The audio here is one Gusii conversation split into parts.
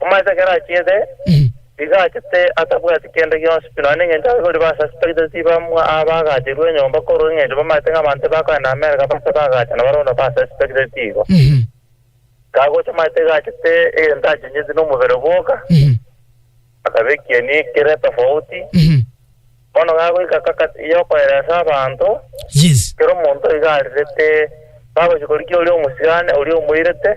Omoisa ekero achiete, iga achete atabwati kende gionsi, pi nonya nengencho ababori ba Sassi tagete tibamwa aa bagacherwa enyomba, korwa engencho bamaete ng'a abanto ebakoe na Amerika baase bagachana barono ba Sassi tagete tigo. Kagocha omoisa iga achete egento achenyetie na omobere bwoka, akabekia enie kere etofauti. Bono gagoika kakati yokoeresa abanto, Yes. kera omonto iga arirete, bagochia korigia oria omosigane, oria omoirete,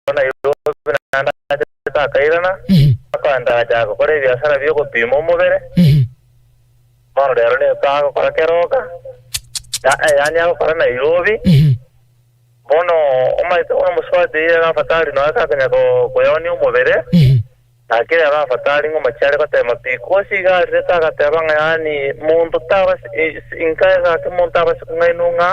Oko Nairobi naende achete akairana, akoendacha gokora ebiasara bi'ogopiima omobere, bono rero ninto agokora keroka, ya- yaani agokora Nairobi. Bono omanyete buna omosubati iga gafatari nonya takonyara ko- koyaonia omobere. Na kera arabate are ng'uma chiare goteema pi, Kuasi iga arirete agateeba ng'a yaani monto taba ase inka eye gaki monto abase kong'ainwa ng'a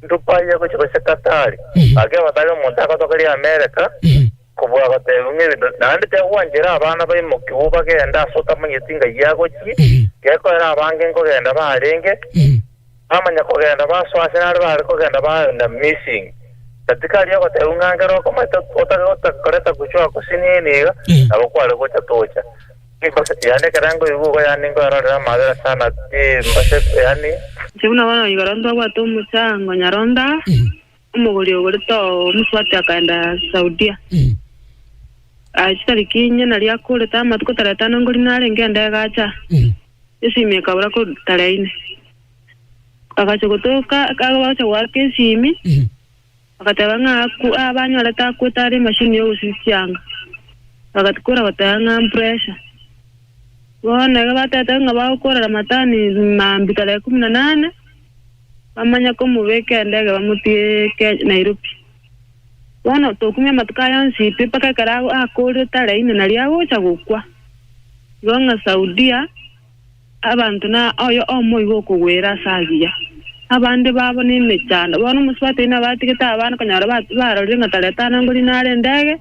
ndupaye gochia gose Katari. Gaki abate are omonto agotogeria Amereka kobua goteebiwa ng'a ebinto naende tiagwanchera abana baimokigwe bagende ase otamanyeti ng'ai agochie, gekoera abange nkogenda barenge. Bamanya kogenda basoa ase are baare kogenda baenda Misiri. Na tikari ogotebwa ng'a ngera okomoita otakoreta gochwa gose niini iga, nabo kware gocha tocha. Embasati yane ekero ngoigwa igo yaani nkoerorera amabera sana pi, embasati yaani. Inche buna bono igoro ntobwate omosango nyarondao. Omogori ogore too omosubati akaenda Saudia. Aachia tariki inye nario akorete amatuko tarehe etano ngori narenge ende agacha esimi ekabora ko tarehe ine. Agacha gotoka akagocha goaka esimi agateba ng'a aku abanyorete akwete are emashini ya ogosisianga. Bagatukora goteba ng'a mpressure. Bono iga batete ng'a bagokorera matani mambia tarehe kumi na nane. Bamanya komobeka endege bamotiike Nairobi. Bono tokumia amatuko aya onsi pi mpaka ekero akoorire tara ime nario agocha gokwa. Igo ng'a Saudia abanto na oyo omo igo okogwera ase agiya. Abande babo nemechando. Bono omosubati oyio nabatigete abana konyora barorire ng'a tara etanangori nare endege,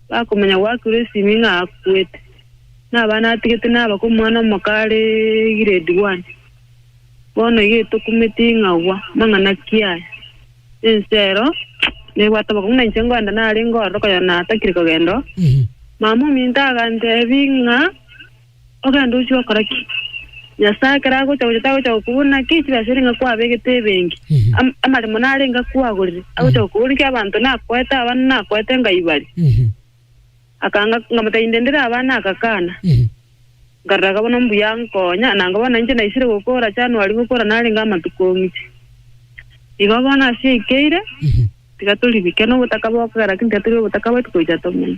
bakomanya goakirwa esimi ng'a akwete. Nabana atigete naba komwana omoka are grade one. Bono iga tokumeti ing'agwa mang'ana kiaye, ense ero nebwate obokong'u, na inche ngoenda nare ngorore koyo natakire kogenda oo. Mama ominto agantebi ng'a, Ogenda ochia okora ki? Nyasae ekero agocha gocha tagocha gokobuna ki chibe asore ng'a kwabegete ebenki, am- amaremo narenge akwagorire, agocha gokobuna ki abanto nakoete abana nakoete ngai bare. Akanga, nkamata inde ndire abana agakana. Nkareraga bono mbuya nkonya, na nkabona inche naisire gokora January gokora narenge amatuko omiche. Igo bono Asia eikeire, tiga toribike nobotaka bokogera kin tiga tore obotaka bwetu koicha tomenya.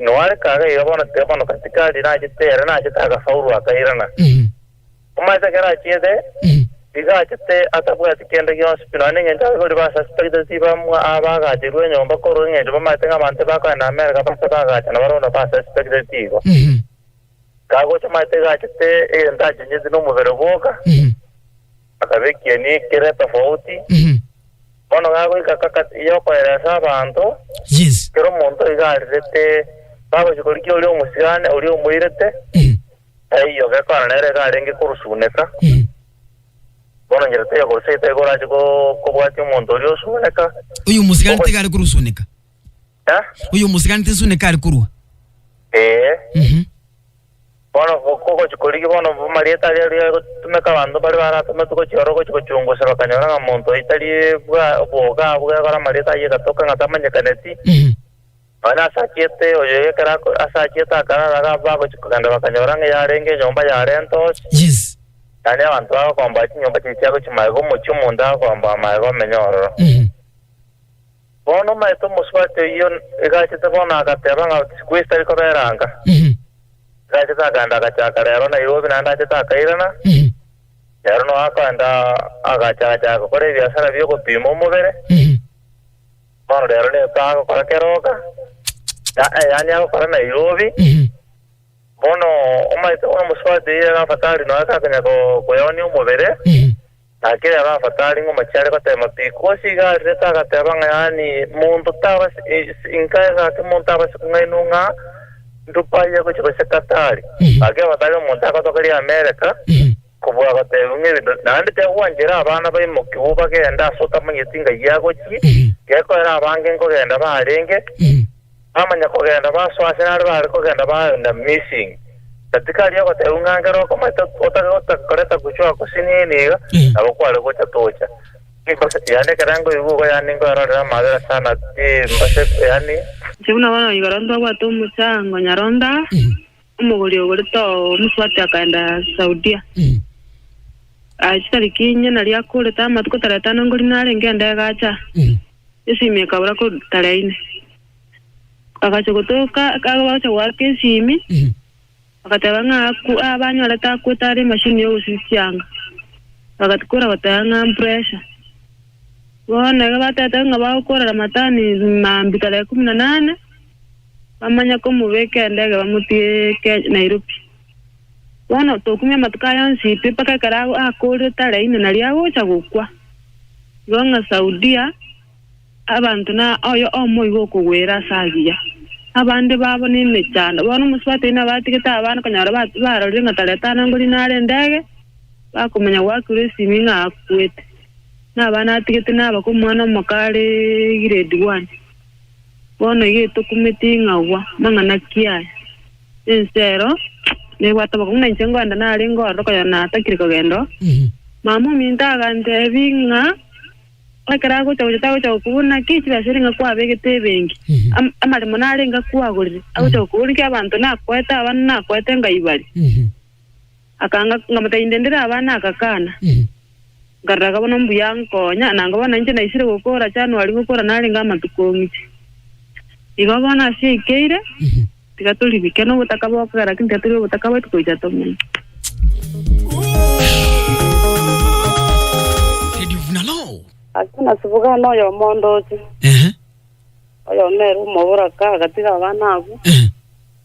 Noareka agaiga bono tiga bono katikari nachete ere nachete agasaurwa akairana. Omanyete ekero achiete, iga achete atabwati kende gionsi pi nonya nengencho ababori ba asasi tagete tibamwa aa bagacherwa enyomba korwa engencho bamanyete ng'a abanto ebakoenda Amerika bache bagacha na barondo ba asasi tagete tigo. Kagocha omanyete iga achete egento achencheti nomobere bwoka. Akabekia ebiek kere tofauti, bono gagoika kakati y'okoera ase abanto, Yes. kera omonto iga arirete. Bagochia korigia oria omosigane, oria omoirete, taiyo, gekwana nere iga arenge korusuneka. Bono inchera taiyo korusia, taiyo korache ko- kobwatia omonto oria osuneka. Oyo omosigani Ogo- tiga are korusuneka. Eh? Oyo omoseganete Yesu neka are korua. Ee. Mhm. Bono go- go- gochi korigi bono bu- marieta aria riga gotumeka abanto bare baratometwe gochia oro gochia gochungusa bakanyora ng'a monto oyo tari bwa oboga abwo gekora amarieta ayio egatoka ng'a tamanyekaneti Mhm. nonya ase achiete oyo ekero ako- ase achiete akarara ga bagochia kogenda bakanyora ng'a yarenge enyomba yarenta osi Yes. yaani abanto bagokomba chinyomba chiria chiagochia maega omochie omonto agokomba maega omenye ororo Mhm. Bono omaete omosubati oyio egachete bono agateba ng'a Chikwesi tari kobera anga. Egachete akaenda agachaaka reero Nairobi naende achete akairana, reero nao akaenda agachachaaka gokora ebiasara bi'ogopiima omobere. Bono reero nigo agokora Keroka, yaani agokora Nairobi. Bono omaete bono omosubati oyio egafataria nonya kakonyara koyonia omobere. Na kera Rafata arenge omachie are goteema pi, Kusi iga arirete agateeba ng'a yaani monto tabase, inka egake monto abase kung'ainwa ng'a ndupaye gochia gose Katari. Na kera Rafata aria omonto agotoka ria Amereka, kobua goteebiwa ng'a ebinto naende tiagwanchera abana baimokigwe bagende ase otamanyeti ng'ai agochie, gekoera abange nkogenda barenge. Bamanya-kogenda basoa ase nare baare kogenda baenda Misiri, na tikari ogotebiwa ng'a nkere okomoita otakoreta gochwa gose niini iga, nabo kware gocha tocha. Nimbasa yaani ekero nkoigwa igo yaani nkoerorera amabera sana timbasa yaani. Inche buna bono igoro ntobwate omochango nyaroo ndaa. Omogori ogore tomoswati akaenda Saudia. Aachia tari kinya nario akorete amatuko tara etano ngori narenge ande agacha esimi ekabora ko tara ine. Agacha gotoka agacha goaka esimi agateba ng'a aku abanyorete akwete are emashini ya ogosisianga. Bagatikora goteba ng'a mpressure. Bono iga batete ng'a bagokorera matani mambia tara ekumi na nane. Bamanya komobeka endege bamotiike Nairobi. Bono tokumia amatuko aya onsi pi mpaka ekero akoorire tarehe ime nario agocha gokwa. Igo ng'a Saudia abanto na oyo omo igo okogwera ase agiya. Abande babo nemechando. Bono omosubati oyio nabatigete abana konyora barorire ng'a tarehe tano angori nare endege, bakomanya goakirwa esimi ng'a akwete. Nabana atigete naba komwana omoka are grade one. Bono getokumeti ing'agwa mang'ana kiaye, ense ero nebwate obokong'u, na inche ngoenda nare ngororo koyo natakire kogenda oo. Mama ominto agantebi ng'a ekero agocha gocha tagocha gokobori naki chibesa ere ng'a kwabegete ebenki, am- amaremo narenge akwagorire, agocha gokobori naki abanto nakoete abana nakoete ngai bare. Akanga, nkamotebia, Inde ndire aba nagakana. Nkaroraka bono mbuya nkonya, na nkabona ninche naisire gokora January gokora narenge amatuko ng'iti. Igo bono Asia eikeire, tiga toribike nobotaka bokogera gaki tiga tore obotaka bwetu gocha tomenya. Lady of Naloo. Ase nasibugana oyomo ondooche, Ehe, oyomo ere omobura kaagatiga abana abwo, ehe.